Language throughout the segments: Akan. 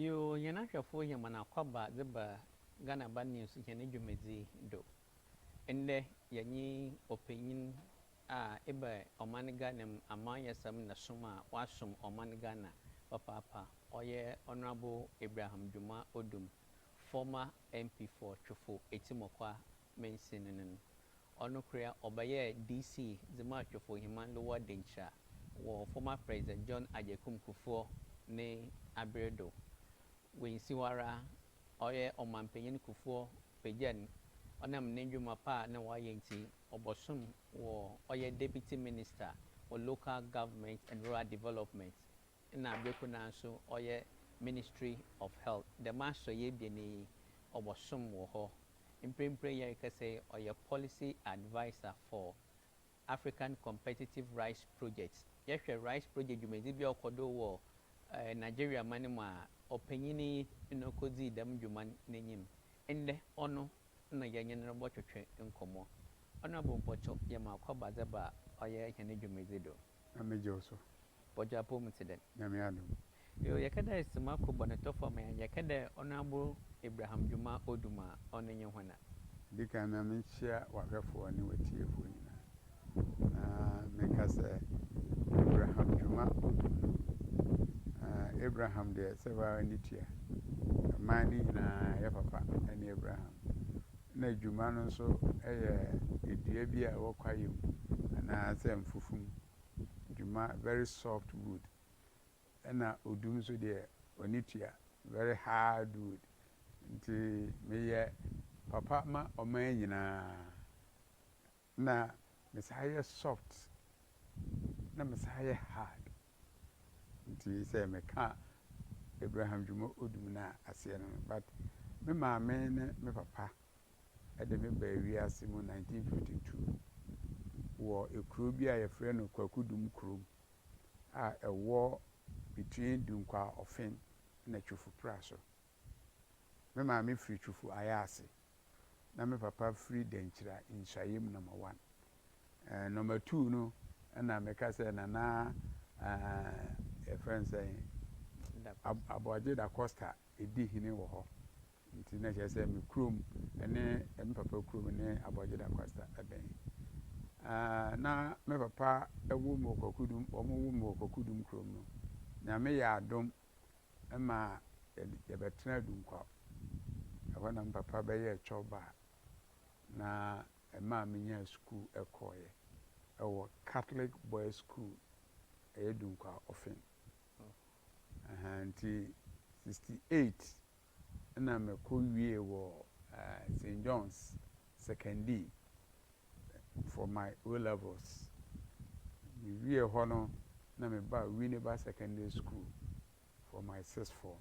Yoo hɛn ahwɛfo yɛ hɔn akɔaba dze ba Ghana Aba News hɛn dwumadzi do. Ndɛ yɛnye ɔpanyin a eba ɔman Ghana mu amanyɛsɛm na som a ɔasom ɔman Ghana papaapa, ɔyɛ Honourable Abraham Dwuma Odum, former MP for Twofo Etimokwa Mense no no no. Ɔnokoria ɔbɛyɛɛ DC dze maa Twofo-Heman Lower Denkyira wɔ former President John Agyekum Kufuor ne aber do. Oennsi hɔ ara, ɔyɛ Ɔmampanyin Kufuor pegyaa no ɔnam ne ndwuma pa a nna ɔayɛ ntsi, ɔbɔsoom wɔ ɔyɛ Deputy Minister for Local Government and Rural Development Nna aber kor no ara so ɔyɛ Ministry of Health. Dɛm asɔyɛ ebien yi, ɔbɔsom wɔ hɔ. Mprempren yɛrekasa yi, ɔyɛ Policy Adviser for African Competitive Rice Project. Yɛhwɛ rice project dwumadzi bi a ɔkɔ do wɔ Nigeria man mu a, ɔpanyin yi na okodzii dɛm dwuma no n'enyim. Ndɛ, ɔno na yɛnye no robɔtwetwe nkɔmbɔ. Ɔnoara bo mpɔtɔ, yɛma ɔkɔ ba dze ba ɔyɛ hɛn dwumadzi do. Na megye wo so. Bɔdwo apɔw mu tse dɛn? Nyame adom. Yoo yɛkɛ dɛ sima ko bɔnetɔfɔ me a yɛkɛ dɛ ɔnoabo Abraham dwuma odum a ɔno nye hɔna. Di kan ma menkyia w'ahwɛfoɔ ne w'atiefoɔ nyinaa na menka sɛ Abraham dwuma odum no Abraham deɛ sɛ wo ara ne tua. Mmaa no nyinaa yɛ papa ne Abraham. na adwuma no nso yɛ dua bi a ɛwɔ kwaeɛm anaa sɛ mfufum dwuma, very soft wood, ɛna odum nso deɛ ɔne tua, very hard wood. Nti meyɛ papa ma ɔman nyinaa. Na me san yɛ soft na me san yɛ hard nti sɛ me ka Abraham Dwuma Odum no a aseɛ no no but me maame ne me papa de me baa wiase mu 1952 wɔ ekuro bi a yɛfrɛ no Kwaku Dum Kurom a ɛwɔ between Dunkwaa Ɔfen na Twofupra so. Me maame firi Twufu Ayaase na me papa firi Dankyira Nhyayem Nɔma One. Eh, Nɔma Two no na meka sɛ Nana eh, yɛfrɛ no sɛn? Da Ab- Costa. Aboagye Da Costa di hene wɔ hɔ. Nti na kyerɛ sɛ me kurom ne eh, me papa kurom ne Aboagye Da Costa bɛn. Eh, na me papa wo me wɔ Kwakudum, wɔwo me wɔ Kwakudum kurom no. Nyame yɛɛ adom ɛmaa yɛbɛtenaa Dunkwaw. Ɛhɔ na me papa bɛyɛɛ cɔba na ɛmaa menyaa sukuu kɔeɛ wɔ Catholic Boys School, ɛyɛ Dunkwaw Ofin. Ɛhaa nti 68 na mekɔwiee wɔ Saint John's Sekondi for my O-Levels. Mewiee hɔ no na mebaa Winneba Secondary School for my Sixth Form.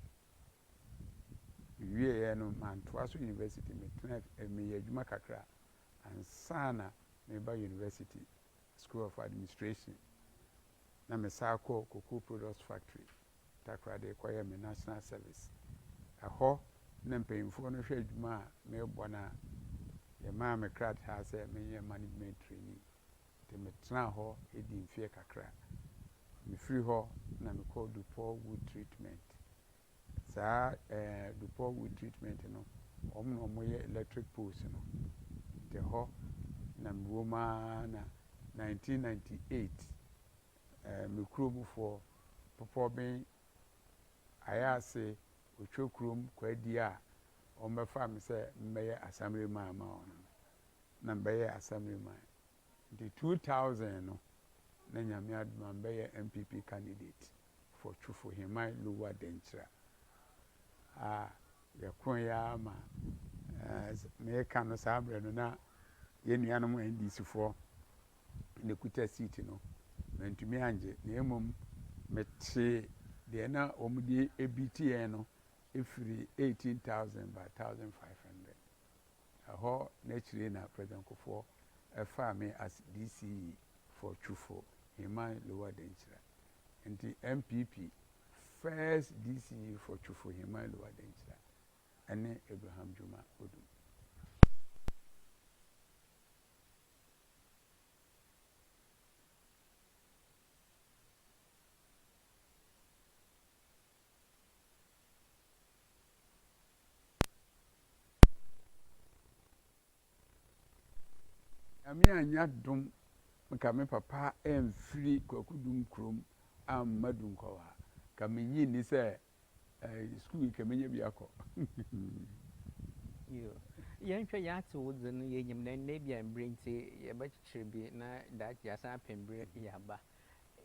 Mewieeɛ no mantoa so University, metenaa meyɛɛ adwuma kakra ansa na mereba University, School of Administration, na mesan kɔɔ Cocoa Products Factory Takoradi kɔyɛɛ me National Service. Ɛhɔ na mpanyimfoɔ no hwɛ adwuma a merebɔ no a, yɛmaa me krataa sɛ menyɛ Management Trainee. Nti metenaa hɔ dii mfeɛ kakra. Mefiri hɔ na mekɔɔ Dupol Wood Treatment. Saa eh, Dupol Wood Treatment no, wɔn na wɔyɛ electric poles no. Nti ɛhɔ na mewom ara na 1998 Ɛɛ me kuro mu foɔ popɔ ben ayɛ ase otwa kurom kɔ adie a wɔn bɛfaa me sɛ mɛyɛ assembly man ama wɔn no na mbɛyɛ assembly man nti two thousand no na nyame adom a mbɛyɛ NPP candidate for twufo heman lower denkyira a yɛ kron yɛ ara ma ɛɛ meka no saa berɛ no na yɛ nuanom NDC foɔ na ekuta siiti no, mantumi angye, na mmom metee deɛ na wɔde beati yɛn no firi eighteen thousand ba thousand five hundred. Ɛhɔ na akyire na President Kufuor faa me as DCE for Twufo, Heman Lower Denkyira. Nti NPP first DCE for Twufo, Heman Lower Denkyira ne Abraham Juma Odum. Nyame annyɛ adom nka me papa amfiri Kwaku Dum kurom amma Dunkɔlaa, nka mennye nni sɛ ɛɛ sukuu yi kɛ menya bi akɔ. Yoo. Yɛnhwɛ, yɛate wo dze no, yenyim dɛ ndɛ bi a mber ntsi yɛbɛkyekyer bi na daakye yɛasan apɛ mber dze aba.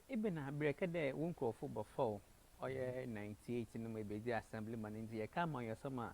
Ebɛn aber? Yɛkã dɛ wo nkorɔfo bɔfɔw, ɔyɛ ninety eight no mu ebedzi Assemblyman ntsi yɛkã ama ɔyɛ ɔsɛm a,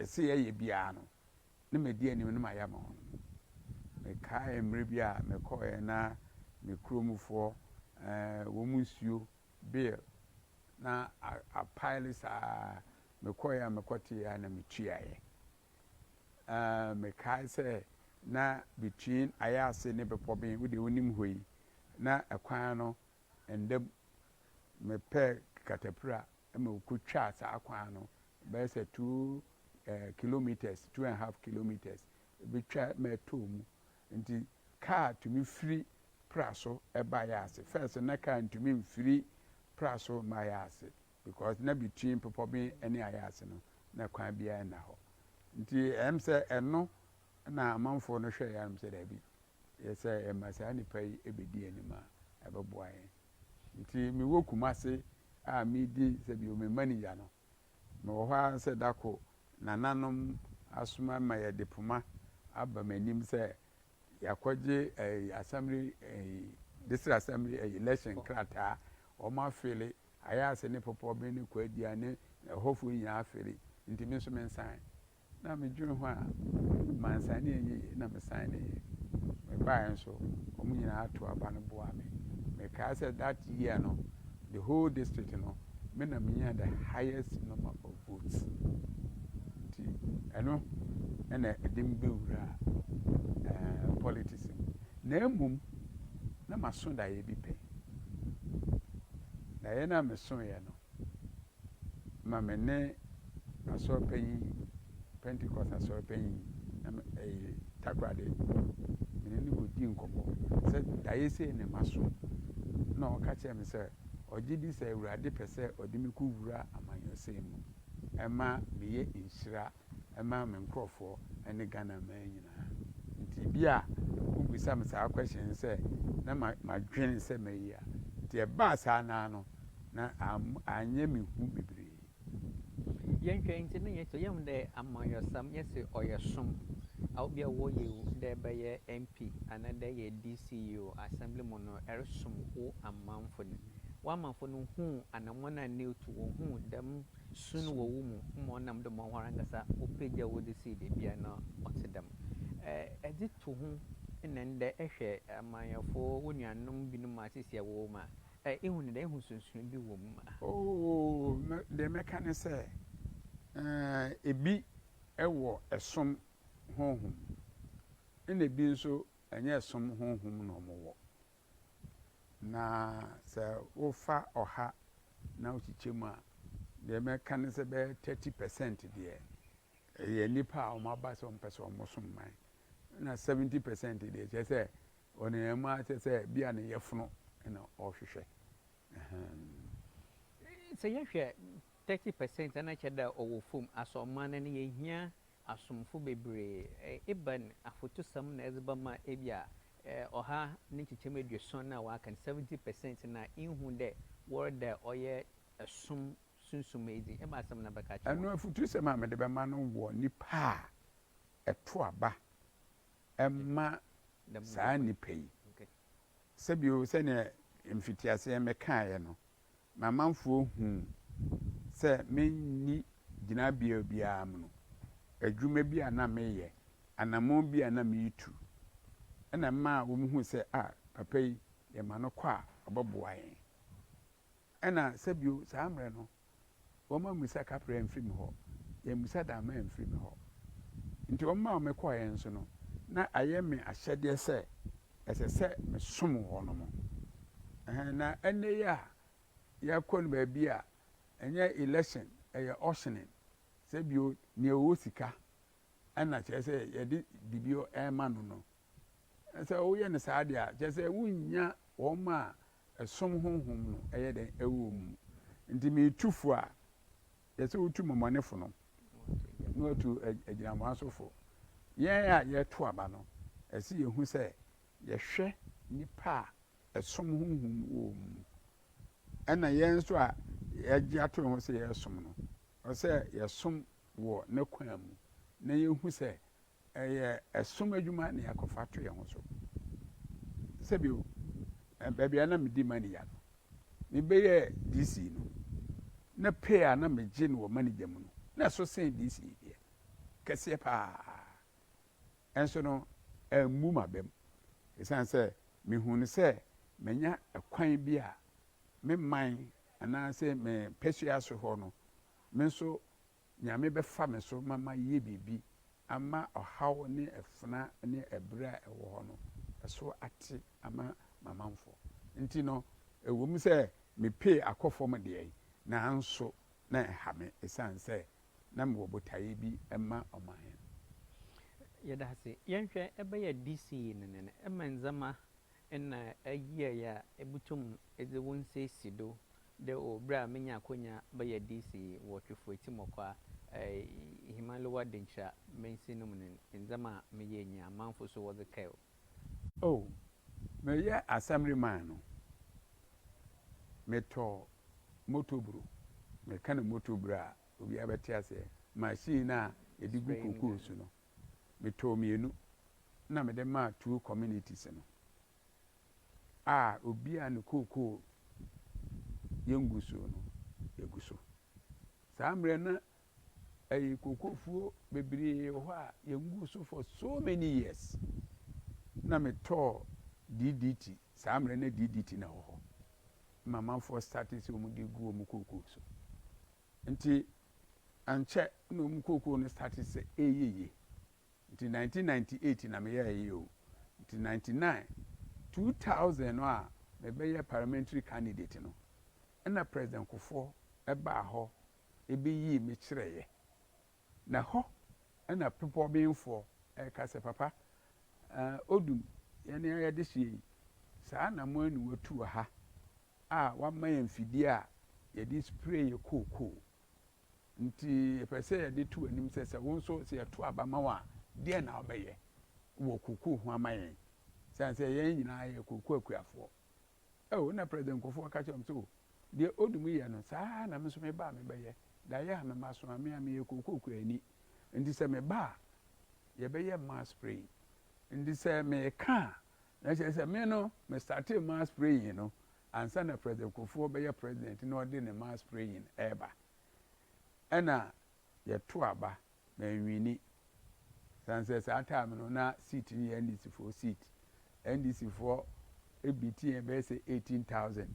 Ɛsɛ yɛyɛ biara no, na madi anim na mayɛ ama wɔn. Mekae mmerɛ bi a mekɔeɛ na me kuromfoɔ, wɔn nsuo, bill, na apaele saa ara. Mekɔeɛ a mekɔteeɛ ara na metuaeɛ. Mekae sɛ na between Ayase ne Bepɔben, wo deɛ wonim hɔ yi, na kwan no Ɛnda mu, mepɛɛ katapira ma wokotwaa saa kwan no bɛyɛ sɛ two kilometres, two and half kilometres bi twa ma ɛtɔɔ mu. Nti kaa tumi firi pra so ba Yaase. First no na kaa ntumi mfiri pra so mma Yaase because na between Bepɔben ne Ayaase no na kwan biara nna hɔ. Nti ɛyɛ me sɛ ɛno Ɛnna amanfoɔ no hwɛeɛ ara sɛ dabi, yɛ sɛ yɛma saa nnipa yi bɛdi yɛn anim a, ɛbɛboa yɛn. Enti mewɔ Kumasi a meredi sɛ bio me manigya no, mewɔ hɔ ara sɛ da koro nananom asoma ma yɛde poma aba m'anim sɛ yɛakɔgye assembly, district assembly election krataa, wɔafele, Ayase ne Popoɔben ne Kwaadua ne ɛhɔfoɔ nyinaa afele, enti me nso mensan. Na medwene ho a, mansan ne anyɛ yie, na mesan ne yɛ. Mebaeɛ nso, wɔn nyinaa too aba no boaa me. Mekae sɛ that year no, the whole district no, me na menyaa the highest number of votes. Nti ɛno na ɛde me bɛwuraa eh, politics mu. Na mmom, na maso daeɛ bi pɛ. Daeɛ no a mesoeɛ no, ma me ne asɔre panyin, Pentecost asɔre panyin, na me, ɛyɛ Takoradi, me ne no kɔdii nkɔmmɔ sɛ daeɛ sei na maso, na ɔka kyerɛɛ me sɛ ɔgye di sɛ Awurade pɛ sɛ ɔde me kɔwura amanyɔsɛm mu, ɛma meyɛ nhyira ɛma me nkorɔfoɔ ɛne Ghana man nyinaa. Nti bi a wo bisa me saa question no sɛ na ma ma dwene sɛ mɛyi a, nti ɛbaa saa no ara no na am anyɛ me hu bebree. Yɛn hwɛ nti no yɛ sɛ yɛhu dɛ amanyɔsɛm yɛ se ɔyɛ som a obi a wɔ yɛ wu dɛ ɛbɛyɛ MP anaa dɛ ɛyɛ DC yi o Assembly mu no ɛresom wo amanfo no. Wo amanfo no huu anamɔn a ne tu wɔ huu dɛm Su no wɔ wo mu ma ɔnam do ma woarankasa wopegya wo dze si beebi a nna ɔtse dɛm. Dze to ho na ndɛ ehwɛ amanyɛfo wo nuanom binom asisi a wɔwɔ mu a, ihu no dɛn? Ihu sunsum bi wɔ mu? Oo, dee mɛka ne sɛ, ee, bi wɔ som honhom, nna bi nso nnyɛ som honhom na wɔwɔ. Na sɛ wofa ɔha na wokyekyɛ mu a, deɛ mɛka ne sɛ bɛyɛ 30 percent deɛ, ɛyɛ nnipa a wɔaba sɛ wɔmpɛ sɛ wɔsom man. Na 70 percent deɛ, kyerɛ sɛ ɔnenam mu ara kyerɛ sɛ bi a ne yɛfono na ɔhwehwɛ. Sɛ yɛhwɛ Thirty percent a na ɛkyɛ dɛ ɔwɔ famu asɔ ɔman no no yehia asomfo bebree. Ebɛn afotusɛm na edze bɛma bi a ɔha ne nkyekyɛmu eduosuon na wɔaka no, seventy percent no a innhu dɛ wɔreda ɔyɛ som sunsum edzi? Ebɛn asɛm na bɛka akyerɛ hɔn? Afotusɛm a medze bɛma no wɔ nyimpa a ɛto aba ma saa nyimpa yi. Sɛ bio, sɛnea mfitsease mekãe no, m'amanfoɔ huu sɛ menni gyinabea biara mu no, adwuma bi a na mereyɛ, anammɔn bi a na meretu, na ɛmaa wɔhuu sɛ, ah, papa yi, yɛma no kɔ a, ɔbɛboa yɛn. Ɛnna sɛbio saa mmerɛ no, Wɔma mmisa kaprɛɛ mfiri me hɔ, yɛn mmisa dammaa mfiri me hɔ. Nti wɔn a wɔkɔɔɛ nso no, na ayɛ me ahyɛdeɛ sɛ ɛsɛ sɛ mesom wɔnom. Ɛhɛn, na ɛnnɛ yi a yɛkɔ no baabi a ɛnyɛ election, ɛyɛ auctioning, sɛ bio, nea ɔwɔ sika na kyerɛ sɛ yɛde biribi rema no no Na sɛ woyɛ no saa de a, kyerɛ sɛ wunnya wɔn a ɛsom honhom no yɛ dɛn? Ɛwɔ mu. Enti meretu fo a, ɛsɛ sɛ wotu mmɔmɔnefo no, na wɔatu agyinamoa so fo. Yɛn a yɛreto aba no, ɛsɛ sɛ yehu sɛ yɛhwɛ nnipa a ɛsom honhom no wɔ wɔn mu. Ɛnna yɛn nso a yɛagye ato yɛn ho sɛ yɛresom no, ɛsɛ sɛ yɛsom wɔ ne kwan mu, na yehu sɛ Ɛyɛ ɛsom adwuma na yɛakɔfa ato yɛn ho so. Sɛbio, baabi a na medi manigya no, mebɛyɛɛ DC no, na pay a na megye no wɔ manigya mu no, na ɛso sen DC deɛ, kɛseɛ pa ara. Nso no, ammu m'abam, ɛsiane sɛ mehuu no sɛ manya ɛkwan bi a me man anaasɛ me mpasua so hɔ no, me nso Nyame bɛfa me so ma mayɛ biribi ama ɔhaw ne afena ne abira a ɛwɔ hɔ no so ate ama m'amanfoɔ nti no, ɛwɔ mu sɛ me pay akɔ fam deɛ, nanso na ɛha me ɛsiane sɛ na mewɔ botaeɛ bi ma ɔman no. Yɛda ase. Yɛnhwɛ ɛbɛyɛ DC no ne no ma ndzɛmba nna eyiei a ibotum dze wo nsa esi do dɛ o ber a menya akwanya bɛyɛ DC wɔ Twifo Etsimoka Ihimaliwa Denkyira Mansin no mu no ndzɛmba a meyɛe nyia amamfo so wɔdze kae o. O, meyɛ Assembly man no, metɔ motor bro, meka no motor bro a obiara bɛtse aseɛ, machine no a yɛdze gu kokoo so no, metɔɔ mmienu na mede maa two communities no a obi a ne kookoo yɛ ngugusuo no gu so. Saa mmerɛ no ɛyi kookoofuo bebree wɔ hɔ a yɛngu so for so many years na metɔɔ DDT saa mmerɛ no DDT na ɛwɔ hɔ ma amanfoɔ started sɛ wɔn de gu wɔn kookoo so Nti ankyɛ na ɔmo kookoo no starte sɛ ɛɛyɛ yie. Nti nineteen ninety eight na me yɛɛ yɛ o. Nti ninety nine, two thousand no a me bɛyɛ parliamentary candidate no, ɛna President Kufuor ɛbaa hɔ ɛbɛyii me kyerɛɛyɛ. Na hɔ ɛna bepɔ benfoɔ ɛɛka sɛ papa ɛɛ Odum yɛne ayɛdehyeɛ yi saa na mo ani watu wɔ ha a wama yɛn mfidie a yɛde spray yɛ kookoo. Nti yɛpɛ sɛ yɛde to w'anim sɛ, sɛ wo nso sɛ yɛto aba ma wo a, deɛn na wobɛyɛ wɔ kookoo ho ama yɛn? Sane sɛ yɛn nyinaa yɛ kookoo akuafoɔ. Oh, ɛna President Nkurɔfoɔ ka kyerɛɛ wɔn sɛ, oh, deɛ Odum yɛ no, saa ara na me nso meba a mebɛyɛ. Daeɛ a mema so a, me a meyɛ kookoo kuani. Nti sɛ meba a, yɛbɛyɛ mmaa spray. Nti sɛ meka a, Na kyerɛ sɛ me no me startee mass praying no ansa na President Kufuor bɛyɛ President na ɔde ne mass praying reba. Ɛna yɛto aba, manwini. Ɛsiane sɛ saa time no na seat no yɛ NDC foɔ seat. NDC foɔ beat yɛn bɛyɛ sɛ 18,000.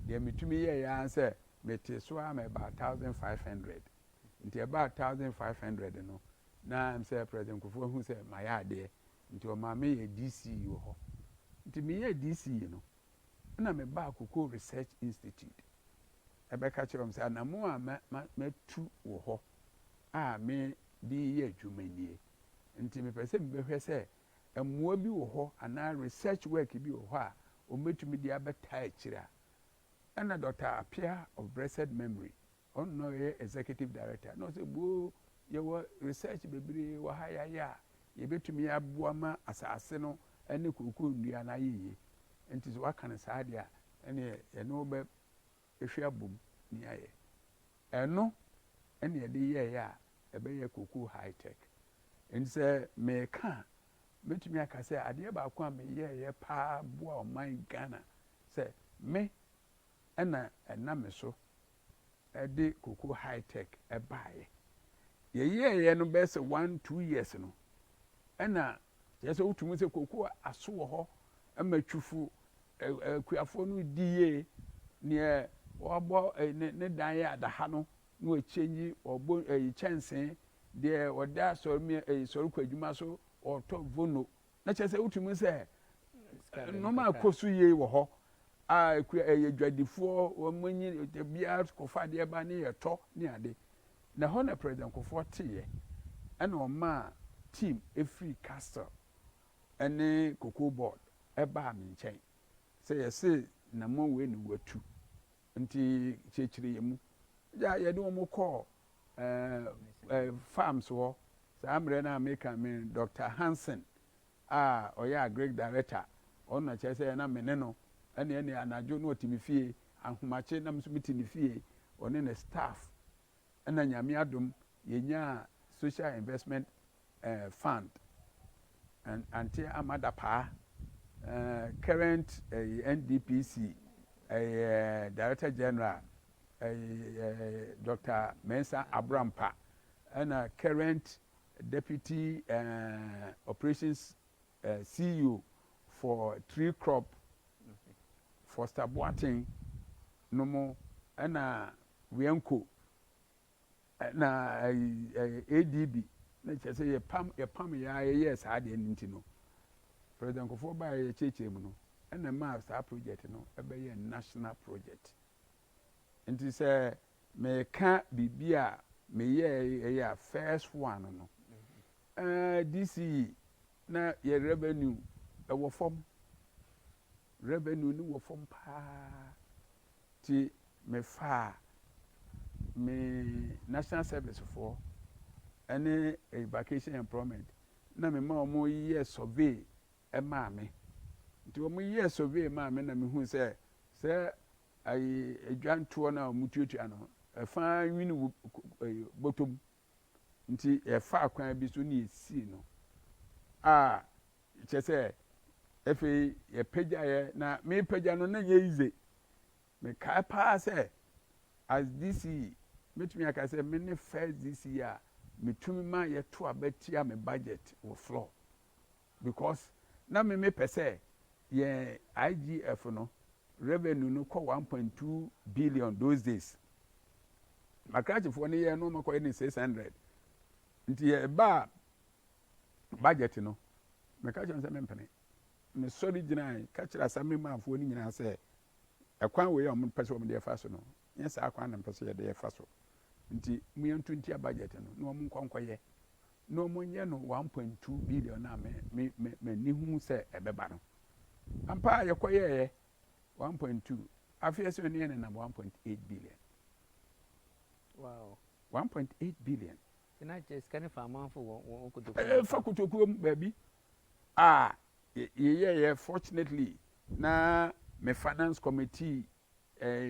Deɛ metumi yɛeɛ ara ne sɛ metee so ara ma ɛbaa 1,500. Nti ɛbaa 1,500 no na ɛm sɛ President Kufuor hu sɛ mayɛ adeɛ nti ɔmaa me yɛɛ DC wɔ hɔ. Nti me yɛɛ DC no, ɛna me baa Cocoa Research Institute, ɛbɛka kyerɛɛ wɔn sɛ anamɔn a ma, ma, matu wɔ hɔ a me de reyɛ adwuma nie, nti me pɛ sɛ me bɛhwɛ sɛ mmoa bi wɔ hɔ anaa research work bi wɔ hɔ a wɔn bɛtumi de abɛtaa akyire a. Ɛna Dɔkta Appiah of Blessed Memory, Ɔno na ɔyɛ executive director na ɔsɛ boo yɛwɔ research bebree wɔ ha yɛayɛ a yɛbɛtumi aboa ma asase no ne kookoo nnua no ayɛ yie nti sɛ woaka no saa deɛ a ɛneɛ yɛne wo bɛ hwɛ abom ne yɛayɛ ɛno ɛne yɛde yɛɛyɛ a ɛbɛyɛ kookoo high tech nti sɛ meka a mɛtumi aka sɛ adeɛ baako a meyɛɛyɛ paa boa ɔman Ghana sɛ me na ɛnam me so de Koko High Tech baeɛ. Yɛyɛeɛ no bɛyɛ sɛ one two years no, ɛna kyerɛ sɛ wotumi sɛ koko aso wɔ hɔ ma twifo akuafoɔ no di yie neɛ wɔabɔ ne dan yɛ adaha no na wɔkyɛngyi wɔbɔ kyɛnsee deɛ wɔde asɔre sɔre kɔ adwuma so wɔtɔ vono Na kyerɛ sɛ wotumi hu sɛ nneɛma a ɛkɔ so yie wɔ hɔ a ɛkura ɛyɛ adwadifoɔ wɔn anyi biara kɔfa adeɛ ba ne yɛtɔ ne ade na ɛhɔ na president kofoɔ teeɛ ɛna ɔmaa team ɛfiri castle ɛne cocoa board ɛbaa me nkyɛn sɛ yɛse nnamɔn wei na watu Nti kyerɛkyerɛ yɛn mu. Gya yɛde wɔn kɔɔ ɛɛ ɛɛ farms hɔ saa mmerɛ no a meka me Doctor Hansen a ɔyɛ agric director ɔno na kyerɛ sɛ na me ne no ɛne ɛne anadwo na ɔte me fie ahomakye na me nso mete ne fie ɔne ne staff ɛna Nyame adom yɛnyaa social investment eh, fund, and Auntie Ama Dapaah, eh, current eh, NDPC eh, Director General, eh, eh, Dr. Mensah Abrampa, ɛna current Deputy eh, Operations eh, CEO for Tree Crop, Foster Boateng, no mo, ɛna Wienco. Na ADB na kyerɛ sɛ yɛpam yɛpam yɛ ara yɛyɛɛ saa adeɛ no nti no, President Nkurɔfoɔ baeɛ yɛkyerɛkyerɛ mu no ɛna ɛmaa saa project no ɛbɛyɛ national project. Nti sɛ meka biribi a meyɛɛ ɛyɛ a first one no, ɛɛ DCE na yɛ revenue ɛwɔ fam, revenue no wɔ fam paa. Nti mefaa me National Service foɔ ne Vacation Employment na mema wɔn yɛɛ survey maa me. Nti wɔn yɛɛ survey maa me na mehu sɛ sɛ ayi adwantoɔ no a wɔtuatua no, ɛfaa nwini bɔtɔ mu. nti yɛfaa kwan bi so ne yɛsii no a kyɛ sɛ afei yɛpagyaeɛ na mepagya no na nyɛ yize mekae paa sɛ as DC mɛtumi aka sɛ me ne first DC a metumi ma yɛto aba tia me budget wɔ floor Because na me me pɛ sɛ yɛn IGF no revenue no kɔ one point two billion those days. Makrachi foɔ no yɛɛ no ɔma kɔyɛ ne six hundred. Nti yɛ baa budget no me ka kyerɛ sɛ me mpene. Me sɔre gyinae ka kyerɛ assembly man foɔ no nyinaa sɛ ɛkwan wei a wɔn pɛ sɛ wɔn de ɛfa so no nyɛ saa kwan na mpɛ sɛ yɛde ɛfa so. Nti mo yɛn to ntia budget no na wɔn nkɔ nkɔyɛ. na wɔnyɛ no one point two billion a me me me m'ani hu sɛ ɛbɛba no ampa a yɛkɔyɛɛyɛ one point two afei ɛsɛ ɔne yɛ nenam one point eight billion wow one point eight billion na kyɛ sika ne fa amanfo wɔ wɔn kotokuo ɛɛ fa kotokuo mu baabi a yɛyɛɛyɛ fortunately na me finance committee ɛɛ.